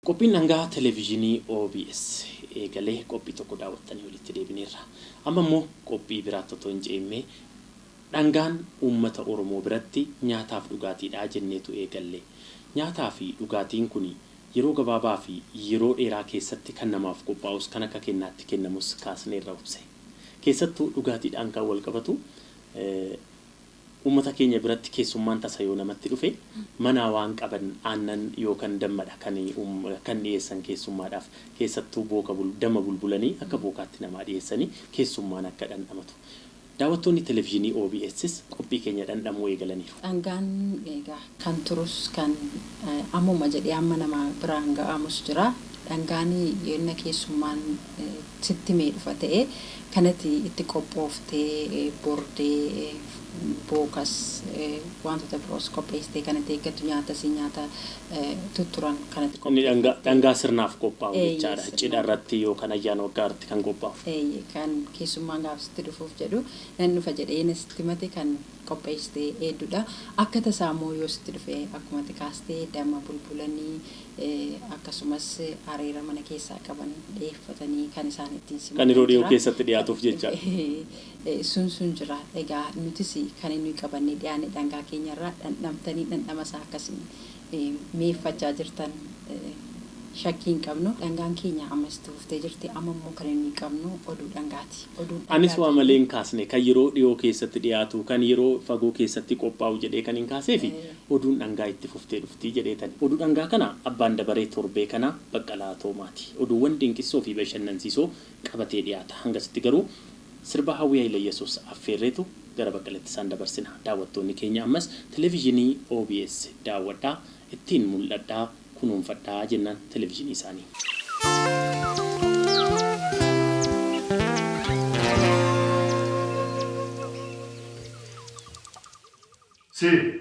Qophiin dhangaa Televizyinii obs eegale qophii tokko daawwattanii walitti deebineerra. Amma immoo qophii biraatti otoo hin ce'iin mee dhangaan uummata Oromoo biratti nyaataaf dhugaatiidha jenneetu eegalle. Nyaataa fi dhugaatiin kuni yeroo gabaabaa fi yeroo dheeraa keessatti kan namaaf qophaa'us kan akka kennaatti kennamus kaasneerra obse. Keessattuu dhugaatiidhaan kan walqabatu Uummata keenya biratti keessummaan tasa yoo namatti dhufe manaa waan qaban aannan yookan dammadha kan kan dhiyeessan keessummaadhaaf. Keessattuu booka bul damma bulbulanii akka bookaatti namaa dhiyeessanii keessummaan akka dhandhamatu. Daawwattoonni televizhinii OBSs qophii keenya dhandhamuu eegalaniiru. Dhangaan egaa kan turus kan ammuma jedhee amma nama biraan ga'aamus jira. Dhangaani yoo inna keessummaan sitti himee dhufa ta'e kan ati itti qophooftee bordee, bookas, waantota biroos qopheessitee kan itti eeggattu nyaatasii nyaata tutturan kan ati Inni dhangaa, qopheeffattee. dhangaa sirnaaf qophaa'u Eeyyee, jechaadha. Cidha sirnaan irratti qophaa'a. yookan ayyaana waggaa irratti kan qophaa'u. Eeyyee, kan keessummaan gaafa sitti dhufuuf jedhu nan dhufa jedhee inna sitti himate kan qopheessite eeddudha. Akka tasaa immoo yoo sitti dhufe akkuma ati kaaste damma bulbulanii akkasumas areera mana keessaa qaban dhiyeeffatanii kan isaan ittiin simatan jira. Kan yeroo dhiyoo keessatti dhiyaatuuf jecha. Sun sun jira. Egaa nutis kan nuyi qabannee dhiyaanne dhangaa keenya irraa dhandhamtanii dhandhama isaa akka isin mi'eeffachaa jirtan shakkii hin qabnu. Dhangaan keenya ammas itti fuftee jirti. Amma immoo kan inni qabnu oduu dhangaati. Oduun dhangaa Anis waa malee hin kaasne. Kan yeroo dhiyoo keessatti dhiyaatu, kan yeroo fagoo keessatti qophaa'u jedhee kanin kaaseef oduun dhangaa itti fuftee dhufti jedheetani. Oduu dhangaa kana abbaan dabaree torbee kanaa Baqqalaa Toomaati. Oduuwwan dinqissoo fi bashannansiisoo qabatee dhiyaata. Hangasitti garuu sirba Hawwii Hayileyesuus affeerreetu gara Baqqaleetti isaan dabarsina. Daawwattoonni keenya ammas Televizhinii obs daawwadhaa, ittiin mul'adhaa, kunuunfadhaa jennaan Televizhinii isaanii. Sir.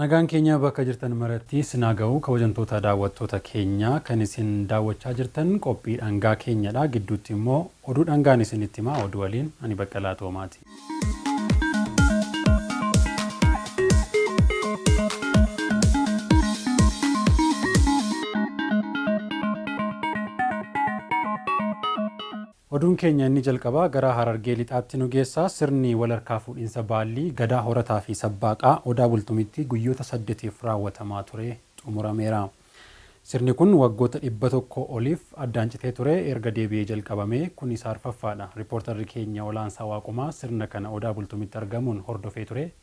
Nagaan keenya bakka jirtan maratti isin haa ga'u kabajamtoota daawwattoota keenya kan isin daawwachaa jirtan qophii dhangaa keenyadha gidduutti immoo oduu dhangaan isinitti hima oduu waliin ani Baqqalaa Toomaati. Oduun keenya inni jalqabaa gara Harargee Lixaatti nu geessa. Sirni wal harkaa fuudhinsa Baallii, Gadaa Horataa fi Sabbaaqaa, Odaa Bultumitti guyyoota saddetiif raawwatamaa ture xumurameera. Sirni kun waggoota 100 oliif addaan citee ture erga deebi'ee jalqabamee kun isa arfaffaadha. Ripoortarri keenya Olaansaa Waaqumaa sirna kana Odaa Bultumitti argamuun hordofee ture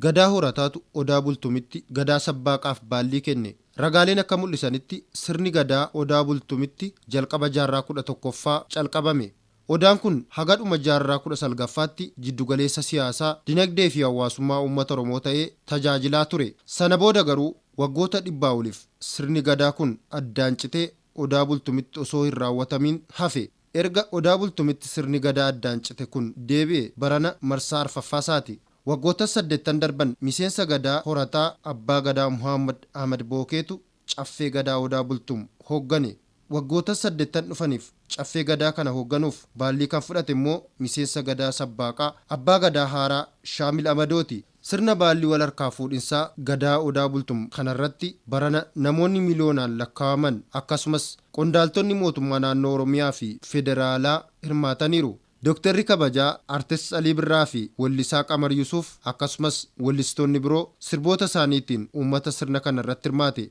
Gadaa Horataatu Odaa Bultumitti Gadaa Sabbaaqaaf baallii kenne. Ragaaleen akka mul'isanitti sirni Gadaa Odaa Bultumitti jalqaba jaarraa 11ffaa calqabame. Odaan kun haga dhuma jaarraa 19ffaatti jiddu galeessa siyaasaa, dinagdee fi hawaasummaa uummata Oromoo ta'ee tajaajilaa ture. Sana booda garuu waggoota dhibbaa oliif sirni Gadaa kun addaan citee Odaa Bultumitti osoo hin raawwatamiin hafe. Erga Odaa Bultumitti sirni Gadaa addaan cite kun deebi'e barana marsaa arfaffaa isaati. Waggoottan saddeettan darban miseensa Gadaa horataa Abbaa Gadaa Muhaammad Ahmad Bookeetu Caffee Gadaa Odaa Bultum hooggane. Waggoottan saddeettan dhufaniif Caffee Gadaa kana hoogganuuf baallii kan fudhate immoo miseensa Gadaa Sabbaaqaa Abbaa Gadaa haaraa Shaamil Amadooti. Sirna baallii wal harkaa fuudhinsaa Gadaa Odaa Bultum kanarratti barana namoonni miliyoonaan lakkaa'aman akkasumas qondaaltonni mootummaa naannoo Oromiyaa fi Federaalaa hirmaataniiru. Doktarri kabajaa Artist Alii Birraa fi wellisaa Qamar Yusuuf akkasumas wellistoonni biroo sirboota isaaniitiin uummata sirna kanarratti hirmaate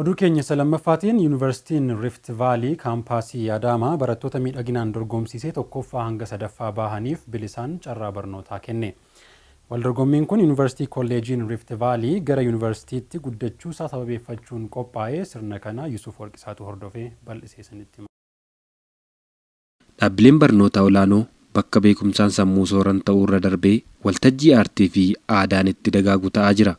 Oduu keenya isa lammaffaatiin Yuunivarsiitiin Rift Vaalii Kaampaasii Adaamaa barattoota miidhaginaan dorgomsiisee tokkoffaa hanga sadaffaa baahaniif bilisaan carraa barnootaa kenne. Waldorgommiin kun Yuunivarsiitii Kolleejiin Rift Vaalii gara Yuunivarsiitiitti guddachuusaa sababeeffachuun qophaa'e sirna kana Yusuuf Warqisaatu hordofee bal'isee isinitti hima. Dhaabbileen barnootaa olaanoo bakka beekumsaan sammuu sooran ta'uurra darbee waltajjii aartiifi aadaan itti dagaagu ta'aa jira.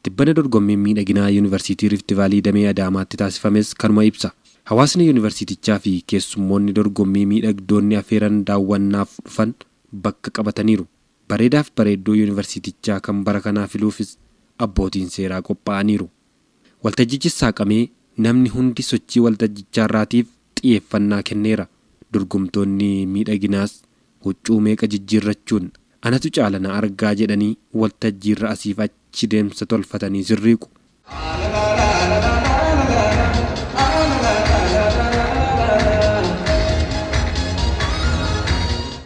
Tibbana dorgommiin miidhaginaa Yuunivarsiitii Rift Vaalii damee Adaamaatti taasifames kanuma ibsa. Hawaasni Yuunivarsiitichaafi keessummoonni dorgommii miidhagdoonni afeeran daawwannaaf dhufan bakka qabataniiru. Bareedaaf bareedduu Yuunivarsiitichaa kan bara kanaa filuufis abbootiin seeraa qophaa'aniiru. Waltajjichis saaqamee namni hundi sochii waltajjichaarraatiif xiyeeffannaa kenneera. Dorgomtoonni miidhaginaas huccuu meeqa jijjiirrachuun anatu caala na argaa jedhanii waltajjiirra asiif achi deemsa tolfatanii sirriiqu.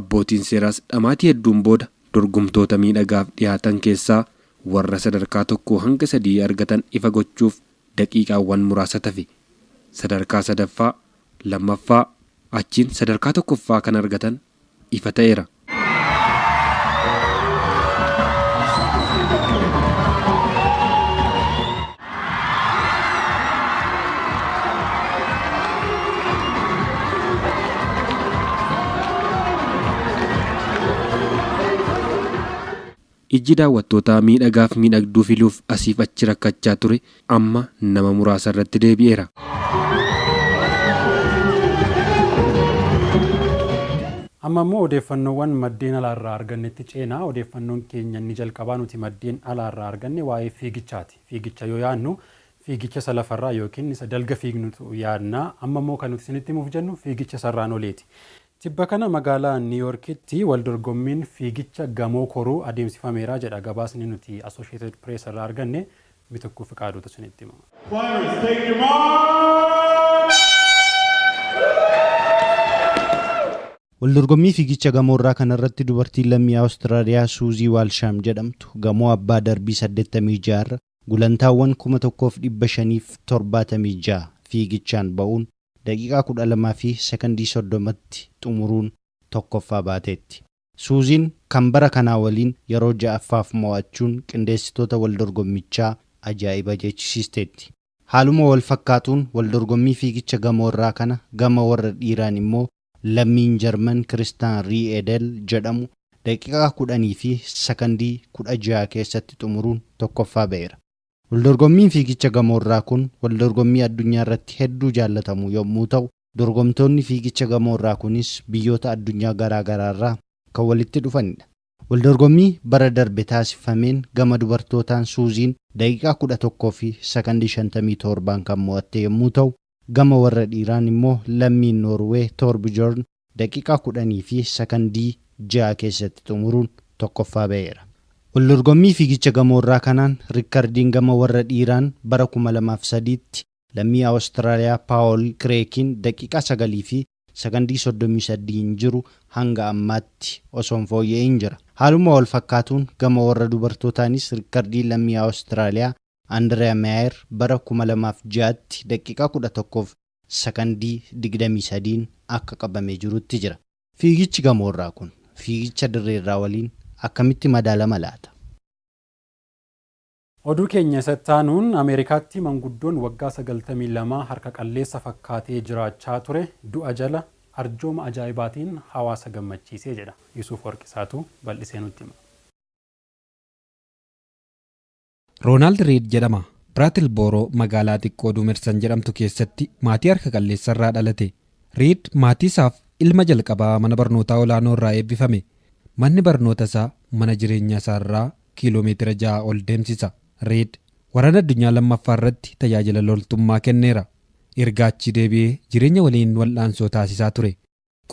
Abbootiin seeraas dhamaatii hedduun booda dorgomtoota miidhagaaf dhihaatan keessaa warra sadarkaa tokkoo hanga sadii argatan ifa gochuuf daqiiqaawwan muraasa tafe. Sadarkaa sadaffaa, lammaffaa, achiin sadarkaa tokkoffaa kan argatan ifa ta'eera. Ijji daawwattootaa miidhagaaf miidhagduu filuuf asiif achi rakkachaa ture amma nama muraasa irratti deebi'eera. Amma immoo odeeffannoowwan maddeen alaa irraa argannetti ceena. Odeeffannoon keenya inni jalqabaa nuti maddeen alaa irraa arganne waa'ee fiigichaati. Fiigicha yoo yaadnu fiigicha isa lafarraa yookiin isa dalga fiignutu yaadna. Amma immoo kan nuti isinitti himuuf jennu fiigicha isarraan oliiti. Tibba kana magaalaa Niiwuyoorkitti waldorgommiin fiigicha gamoo koruu adeemsifameera jedha gabaasni nuti Associated Press irraa arganne Mitikkuu Fiqaaduutu isinitti hima. Players take your marks! Waldorgommii fiigicha gamoorraa kanarratti dubartiin lammii Awustiraaliyaa Suuzii Waalshaam jedhamtu gamoo abbaa darbii 86 irra gulantaawwan 1576 fiigichaan ba'uun daqiiqaa 12 fi sekondii 30tti xumuruun tokkoffaa baateetti. Suuziin kan bara kanaa waliin yeroo ja'affaaf mo'achuun qindeessitoota waldorgommichaa ajaa'iba jechisiisteetti. Haaluma walfakkaatuun waldorgommii fiigicha gamoorraa kana gama warra dhiiraan immoo lammiin Jarman Kiristaan Rii'edel jedhamu daqiiqaa 10 fi sakandii 16 keessatti xumuruun tokkoffaa ba'eera. Waldorgommiin fiigicha gamoorraa kun waldorgommii addunyaarratti hedduu jaallatamu yommuu ta'u, Dorgomtoonni fiigicha gamoo irraa kunis biyyoota addunyaa garaa garaa irraa kan walitti dhufanidha. Waldorgommii bara darbe taasiffameen gama dubartootaan Suuziin daqiiqaa 11 fi sakandii 57n kan mo'atte yommuu ta'u, gama warra dhiiraan immoo lammiin Noorwee Toorbjoorn daqiiqaa 10 fi sakandii 6 keessatti xumuruun tokkoffaa ba'eera. Waldorgommii fiigicha gamoo irraa kanaan rikkardiin gama warra dhiiraan bara 2003tti Lammii Awustiraaliyaa Paawol Kireekiin daqiiqaa 9 fi sakandii 33n jiru hanga ammaatti osoo hin fooyya'in jira. Haaluma wal fakkaatuun gama warra dubartootaanis rikkardii lammii Awustiraaliyaa Andireeya Meeyer bara 2006tti daqiiqaa 11 fi sakandii 23n akka qabamee jirutti jira. Fiigichi gamoorraa kun fiigicha dirreerraa waliin akkamitti madaalama laata? Oduu keenya isa itti aanuun Ameerikaatti manguddoon waggaa sagaltamii lama harka qalleessa fakkaatee jiraachaa ture du'a jala arjooma ajaa'ibaatiin hawaasa gammachiise jedha. Yusuuf Warqisaatu bal'isee nutti hima. Roonaald Riid jedhama. Biratilbooroo magaalaa xiqqoo Duumersan jedhamtu keessatti maatii harka qalleessa irraa dhalate. Riid maatii isaaf ilma jalqabaa mana barnootaa olaanoo irraa eebbifame. Manni barnoota isaa mana jireenyaa isaa irraa kiilomeetira 6 ol deemsisa. Reed Waraana Addunyaa Lammaffaa irratti tajaajila loltummaa kenneera. Erga achii deebi'ee jireenya waliin wal'aansoo taasisaa ture.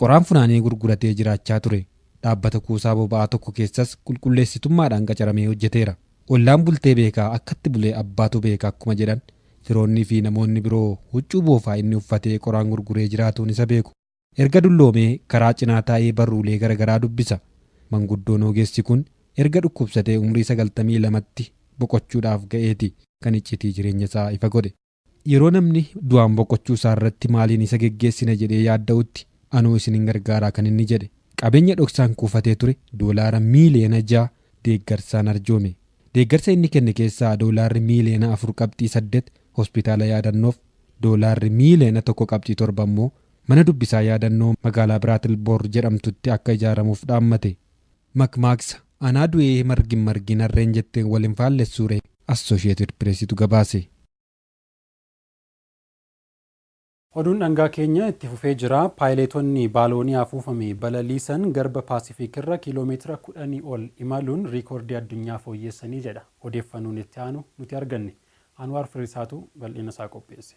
Qoraan funaanee gurguratee jiraachaa ture. Dhaabbata kuusaa boba'aa tokko keessas qulqulleessitummaadhaan qacaramee hojjeteera. Ollaan bultee beeka, akkatti bule abbaatu beeka akkuma jedhan, firoonniifi namoonni biroo huccuu boofaa inni uffatee qoraan gurguree jiraatuun isa beeku. Erga dulloomee karaa cinaa taa'ee barruulee gara garaa dubbisa. Manguddoon ogeessi kun erga dhukkubsatee umrii 92tti boqochuudhaaf ga'eeti kan iccitii jireenya isaa ifa godhe. Yeroo namni du'aan boqochuu isaa irratti maaliin isa geggeessina jedhee yaadda'utti anoo isinin gargaaraa kan inni jedhe. Qabeenya dhoksaan kuufatee ture doolaara miiliyoona 6 deeggarsaan arjoome. Deeggarsa inni kenne keessaa doolaarri miiliyoona 4 qabxii 8 hospitaala yaadannoof, doolaarri miiliyoona 1 qabxii 7 immoo Mana dubbisaa yaadannoo magaalaa Biraatil Boor jedhamtutti akka ijaaramuuf dhaammate. Makmaaksa, Anaa du'ee margi hin margiin harreen jetteen wal hin faallessuuree? Assoshiyeetid Pireesitu gabaase. Oduun dhangaa keenya itti fufee jira. Paayileetonni baaloonii afuufame balaliisan garba Paasifiik irra kiiloo meetira kudhanii ol imaluun riikoordii addunyaa fooyyeessanii jedha odeeffannoon itti aanu nuti arganne. Anwaar Firiisaatu bal'ina isaa qopheesse.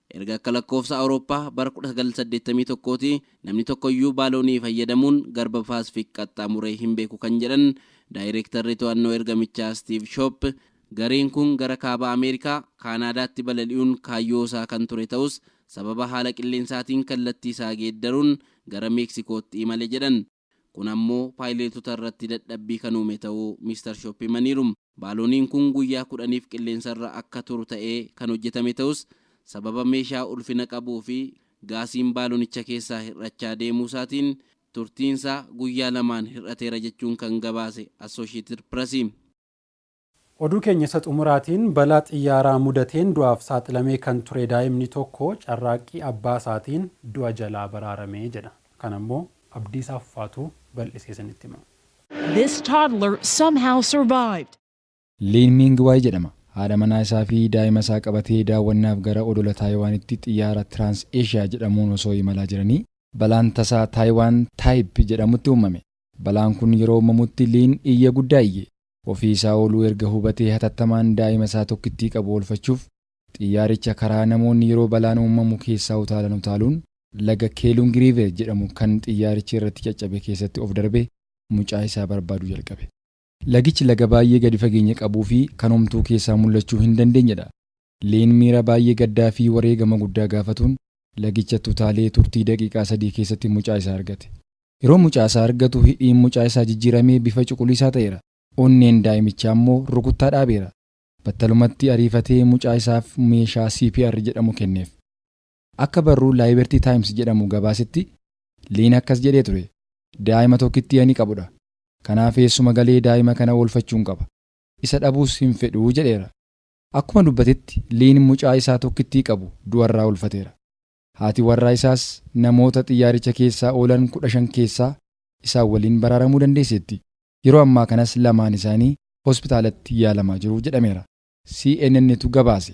Erga akka lakkoofsa Awurooppaa bara 1981ti namni tokkoyyuu baaloonii fayyadamuun garba Paasifik qaxxaamuree hin beeku kan jedhan Daayreektarri To'annoo Ergamichaa Stiiv Shoop, gareen kun gara Kaaba Ameerikaa, Kaanaadaatti balali'uun kaayyoo isaa kan ture ta'us sababa haala qilleensaatiin kallattii isaa geeddaruun gara Meeksikootti imale jedhan. Kun ammoo paayileetota irratti dadhabbii kan uume ta'uu Mr Shop himaniiru. Baalooniin kun guyyaa kudhaniif qilleensarra akka turu ta'ee kan hojjetame ta'us, sababa meeshaa ulfina qabuu fi gaasiin baalonicha keessaa hir'achaa deemuusaatiin turtiinsaa guyyaa lamaan hir'ateera jechuun kan gabaase Associated Press. Oduu keenya isa xumuraatiin balaa xiyyaaraa mudateen du'aaf saaxilamee kan ture daa'imni tokko carraaqqii abbaa isaatiin du'a jalaa baraarame jedha. Kana immoo Abdiisaa Fufaatu bal'isee isinitti hima. This toddler somehow survived. Liin Miing Waay jedhama. Haadha manaa isaa fi daa'ima isaa qabatee daawwannaaf gara odola Taayiwaanitti xiyyaara Trans Asia jedhamuun osoo imalaa jiranii balaan tasaa Taayiwaan Taayip jedhamutti uummame. Balaan kun yeroo uummamutti Liin iyya guddaa iyye. Ofii isaa ooluu erga hubatee hatattamaan daa'ima isaa tokkittii qabu oolfachuuf xiyyaaricha karaa namoonni yeroo balaan uummamu keessaa utaalan utaaluun laga Keelung River jedhamu kan xiyyaarichi irratti caccabe keessatti of darbee mucaa isaa barbaaduu jalqabe. Lagichi laga baay'ee gadi fageenya qabuu fi kan homtuu keessaa mul'achuu hin dandeenye dha. Leen miira baay'ee gaddaa fi wareegama guddaa gaafatuun lagichatti utaalee turtii daqiiqaa sadii keessatti mucaa isaa argate. Yeroo mucaa isaa argatu hidhiin mucaa isaa jijjiiramee bifa cuquliisaa ta'eera, onneen daa'imichaa immoo rukuttaa dhaabeera. Battalumatti ariifatee mucaa isaaf meeshaa CPR jedhamu kenneef. Akka barruu Liberty Times jedhamu gabaasetti, Leen akkas jedhee ture, Daa'ima tokkittii ani qabudha. Kanaaf eessuma galee daa'ima kana oolfachuun qaba. Isa dhabuus hin fedhu jedheera. Akkuma dubbatetti Liin mucaa isaa tokkittii qabu du'arraa oolfateera. Haati warraa isaas namoota xiyyaaricha keessaa oolan 15 keessaa isaan waliin baraaramuu dandeesseetti. Yeroo ammaa kanas lamaan isaanii hospitaalatti yaalamaa jiru jedhameera. CNN'tu gabaase.